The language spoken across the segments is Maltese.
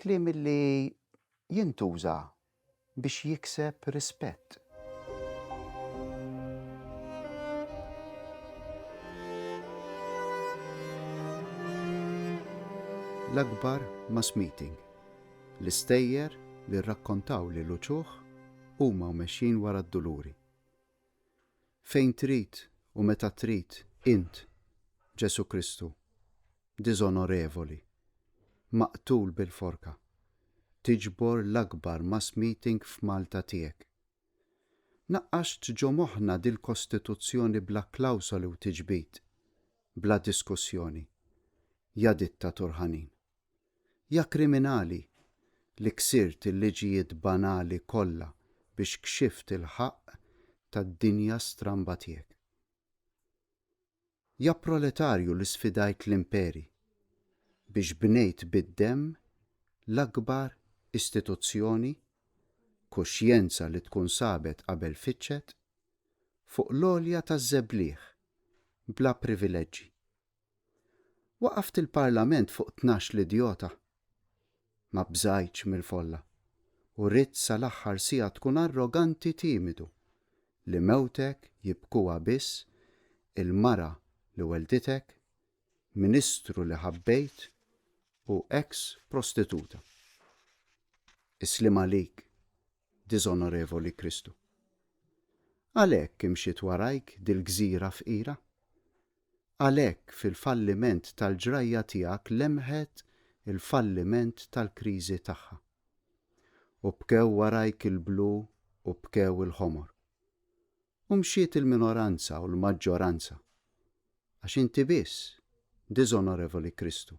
Kliem li jintuża biex jikseb rispett. L-akbar mass meeting. L-istejjer li rrakkontaw lil uċuħ huma u mexjin wara d-duluri. Fejn trid u meta trid int, Ġesù Kristu, diżonorevoli, maqtul bil-forka, tiġbor l-akbar mass meeting f'Malta tiegħek. Naqqaxt ġo moħħna dil-Kostituzzjoni bla klawsoli u tiġbid, bla diskussjoni. Ja dittatur ħanin. Ja kriminali li ksirt il-liġijiet banali kollha biex kxift il-ħaqq tad-dinja stramba tiegħek. Ja proletarju li sfidajt l-imperi biex bnejt bid-demm l-akbar istituzzjoni, kuxjenza li tkun sabet qabel fittxet, fuq l-għolja taż-żebliħ, bla privileġġi. Waqaft il-Parlament fuq tnax-l idjota. Ma bżajtx mill-folla u ridt sal-aħħar siegħa tkun arroganti timidu li mewtek jibkuha biss il-mara li wellditek, ministru li ħabbejt u eks prostituta. Is-sliem għalik, diżonorevoli Kristu. Għalhekk imxiet warajk dil-gżira fqira? Għalhekk fil-falliment tal-ġrajja tiegħek lemħet il-falliment tal-kriżi tagħha. U bkew warajk il-blu u bkew il-ħomor. U mxiet il-minoranza u l-maġġoranza. Għax inti biss, diżonorevoli Kristu,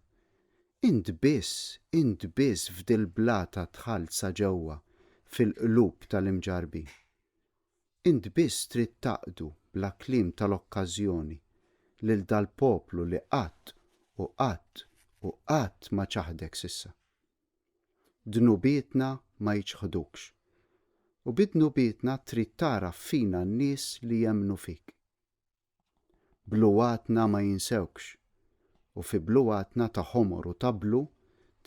int biss, int biss f'dil-blata dħalt sa ġewwa fil-qlub tal-imġarrbin. Int biss trid taqdu bla kliem tal-okkażjoni lil dal-poplu li qatt u qatt u qatt ma ċaħdek s'issa. Dnubietna ma jiċħdukx. U bi dnubietna trid tagħraf fina n-nies li jemmnu fik. Bluwatna ma jinsewkx u fi bluwatna ta' ħomor u ta' blu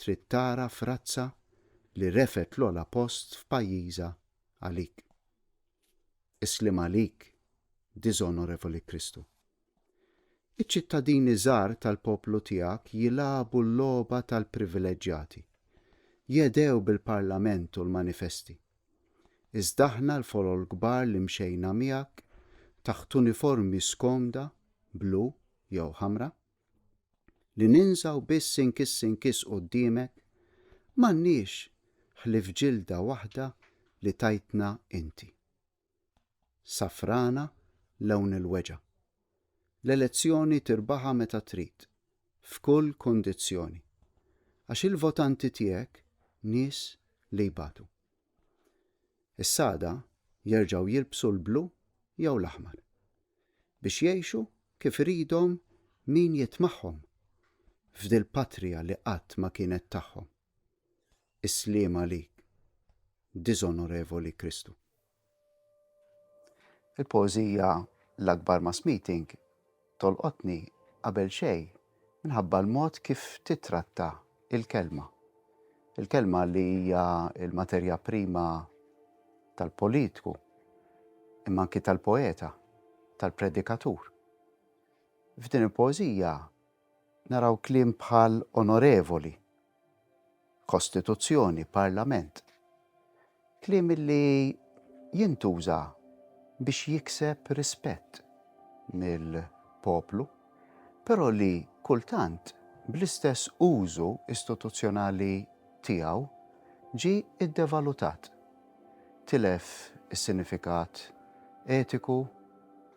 trid tagħraf razza li refgħet l-ogħla post f'pajjiżha għalik. Isliem għalik, diżonorevoli Kristu. Iċ-ċittadini żgħar tal-poplu tiegħek jilagħbu l-logħba tal-privileġġjati. Jedhew bil-Parlament u l-manifesti. Iżda aħna l-folol kbar li mxejna miegħek taħt uniformi skomda, blu jew ħamra, li ninżgħu biss inkiss inkiss quddiemek, m'għandniex ħlief ġilda waħda li tajtna inti. Safrana lewn il-weġa'. L-elezzjoni tirbaħha meta trid, f'kull kundizzjoni. Għax il-votanti tiegħek nies li jbatu. Is-sagħda jerġgħu jilbsu l-blu jew l-aħmar. Biex jgħixu kif iridhom min jitmagħhom f'dil-patrija li qatt ma kienet tagħhom. Is-sliem għalik, diżonorevoli Kristu. Il-poeżija L-Akbar Mass Meeting tolqotni qabel xejn minħabba l-mod kif titratta il-kelma. Il-kelma li hija l-materja prima tal-politku, imma anki tal-poeta, tal-predikatur. F'din il-poeżija Naraw kliem bħal onorevoli, kostituzzjoni, parlament. Kliem li jintuża biex jikseb rispett mill-poplu, però li kultant bl-istess użu istituzzjonali tiegħu ġie ddevalutat, tilef is-sinifikat etiku,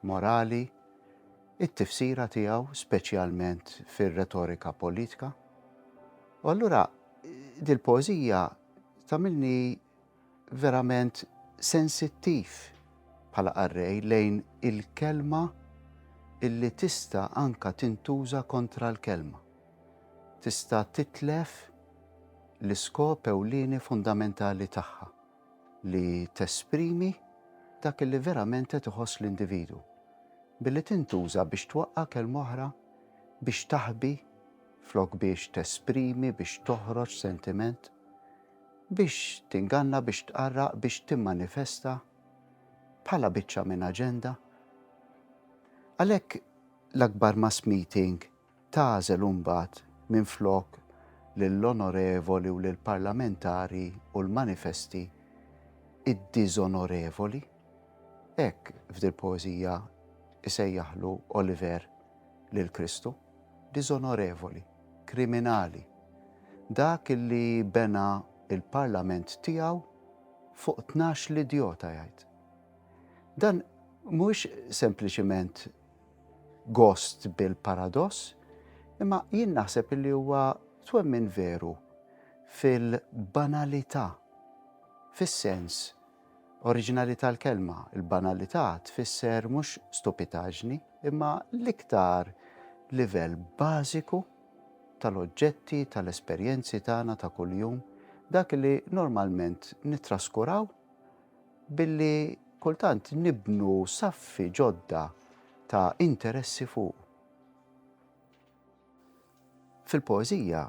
morali, it-tifsira tiegħu speċjalment fir-retorika politka. U allura dil-poeżija tagħmilni verament sensittiv bħala qarrej lejn il-kelma illi tista' anka tintuża kontra l-kelma. Tista' titlef l-iskop ewlieni fundamentali tagħha. li tesprimi dak li verament qed iħoss l-individwu, billi tintuża biex twaqqa' kelma oħra, biex taħbi flok biex tesprimi, biex toħroġ sentiment, biex tinganna, biex tqarraq, biex timmanifesta bħala biċċa minn aġenda. Għalhekk l-akbar mass meeting tagħżel imbagħad minflok lill-onorevoli u lill-parlamentari u l-manifesti id-diżonorevoli? Hekk f'dil-poeżija jsejjaħlu Oliver lil Kristu, diżonorevoli, kriminali, dak li bena l-parlament tiegħu fuq tnax-l idjota jgħid. Dan mhuwiex sempliċiment gost bil-paradoss, imma jien naħseb li huwa twemmin veru fil-banalità fis-sens oriġinali tal-kelma. Il-banalità tfisser mhux stupitaġni, imma l-iktar livell bażiku tal-oġġetti, tal-esperjenzi tagħna ta' kuljum, dak li normalment nittraskuraw billi kultant nibnu saffi ġodda ta' interessi fuq. Fil-poeżija,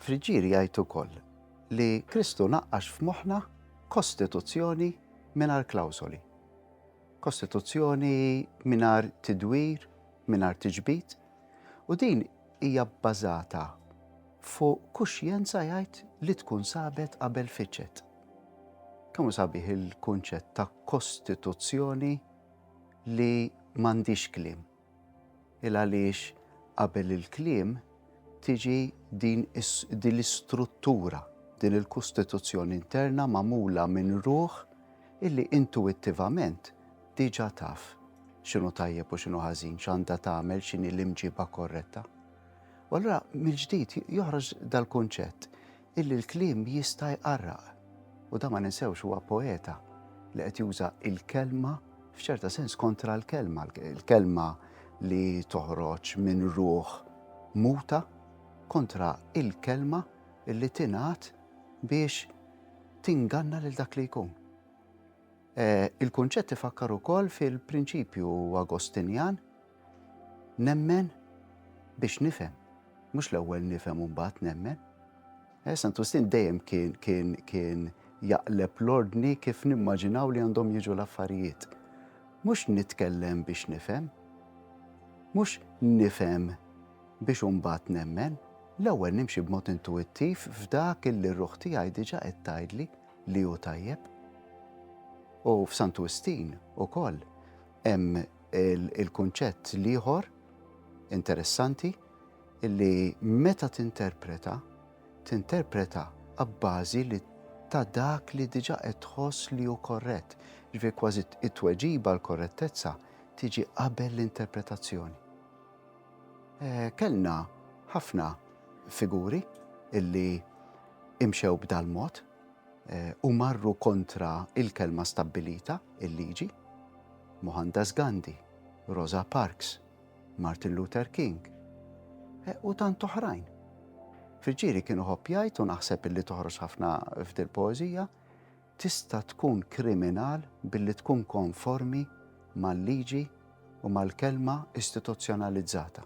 Friġġieri jgħid ukoll li Kristu naqqax f'moħħna kostituzzjoni mingħajr klawsoli. Kostituzzjoni mingħajr tidwir, mingħajr tiġbid, u din hija bbażata fuq kuxjenza jgħid li tkun sabet qabel fiċet. Kemm hu sabiħ il-kunċett ta' Kostituzzjoni li m'għandhiex kliem. Il għaliex qabel il-kliem tiġi din l-istruttura, din il-Kostituzzjoni interna magħmula minn ruħ illi intuwittivament diġa taf x'inhu tajjeb u x'inhu ħażin, x'għandha tagħmel, x'inhi l-imġiba korretta. U allura mill-ġdid joħroġ dal-kunċett Illi l-kliem jista' jqarraq. U dan ma ninsewhx huwa poeta li qed juża l-kelma f'ċerta sens kontra l-kelma, l-kelma li toħroġ minn ruħ muta kontra l-kelma li tingħad biex tinganna lil dak li jkun. Eh, il-kunċett ifakkar ukoll fil-prinċipju Agostinjan Nemmen biex nifhem, mhux l-ewwel nifhem u mbagħad nemmen. Eh, Sant Ustin dejjem kien kien kien jaqleb l-ordni kif nimmaġinaw li għandhom jiġu l-affarijiet. Mhux nitkellem biex nifhem, mhux nifhem biex mbagħad nemmen, l-ewwel nimxi b'mod intuittiv f'dak illi r-ruħ tiegħi diġà qed tgħidli li hu tajjeb. U f'Sant Ustin ukoll hemm Il-kunċett l-ieħor interessanti li meta tinterpreta, tinterpreta abbażi li ta' dak li diġa qed tħoss li hu korrett. Ġifi kważi it-tweġiba l-korrettezza tiġi qabel l-interpretazzjoni. Eh, kellna ħafna figuri illi imxew b'dal-mod, u marru kontra il-kelma stabbilita, il-liġi, Mohandas Gandhi, Rosa Parks, Martin Luther King eh, u tant oħrajn. Fil-ġiri kienu ħoppjajt u naħseb illi toħroġ ħafna f'dil poezija tista tkun kriminal billi tkun konformi mal-liġi u mal-kelma istituzzjonalizzata.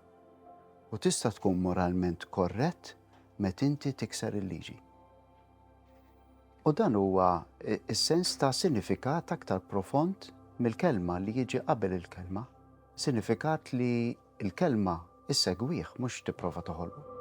U tista tkun moralment korrett met inti tikser il-liġi. U dan huwa s-sens ta' sinifikat aktar profond mill-kelma li jiġi qabel il-kelma, sinifikat li l-kelma issegwih mhux tipprova toħolqu.